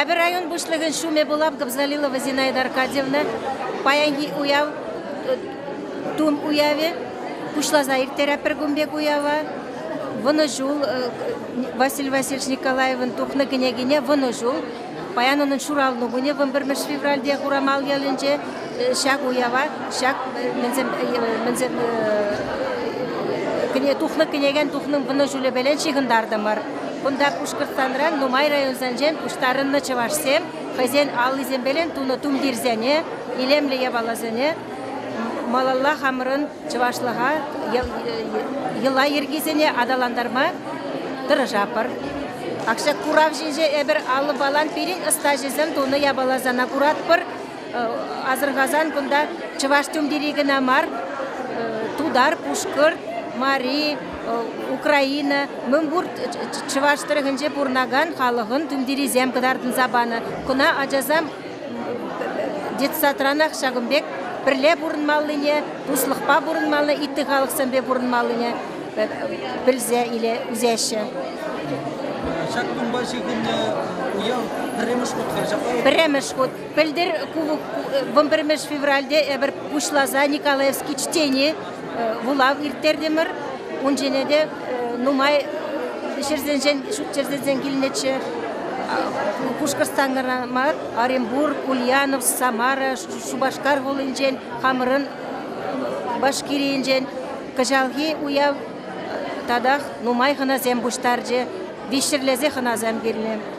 Эпӗ район пуҫлӑхӗн ҫумӗ пулам Кобзалилова Зинаида Аркадьевна. Паянхи уяв, тум уявӗ пуҫласа ирттерет пӗр кун пек уява. Вӑнӑҫул Василий Васильевич Николаевӑн тухнӑ кӗнекине Вӑнӑҫул. Паян унӑн ҫуралнӑ кунӗ 21 февральте Хурамал ялӗнче ҫак уява, ҫак тухнӑ кӗнекен тухнӑн вӑнӑҫулӗпелен ҫыхӑнтартӑмӑр. Кунта Пушкӑртстанран нумай районсенчен пуҫтарӑннӑ чӑвашсем хӑйсен аллисемпелен тунӑ тумтирсене, илемлӗ япаласене малалла хамӑрӑн чӑвашлӑха, йӑла-йӗркисене аталантарма тӑрӑшатпӑр. Акҫа курав ҫинче эпир аллӑ-палан пирӗн ӑстаҫӑсем тунӑ япаласана куратпӑр. Асӑрхасан кунта чӑваш тумтири кӑна мар, тутар, пушкӑрт, мари, украина, мӗнпур чӑваш тӑрӑхӗнче пурӑнакан халӑхӑн тумтирисем кӑтартӑнса панӑ. Куна ачасем детсадранах ҫакӑн пек пӗрле пурӑнмаллине, туслӑхпа пурӑнмаллине, ытти халӑхсемпе пурӑнмаллине пӗлсе ӳсеҫҫӗ. Ҫак кунпа ҫыхӑннӑ уяв пӗрремӗш хут ҫапла? Пӗрремӗш хут. Пӗлтӗр вӑмпӗрмӗш февральте эпир пуҫласа Николаевский чтени вулав ирттертӗмӗр. Ун ҫине те нумай ҫӗрсенчен ҫурт-йӗрсенчен килнӗччӗ. Пушкӑртстанра мар, Оренбург, Ульяновск, Самара, Шупашкар хулинчен, хамӑрӑн Башкирийӗнчен кӑҫалхи уяв татах нумай хӑнасем пуҫтарчӗ. Виҫҫӗрлесе хӑнасем килнӗ.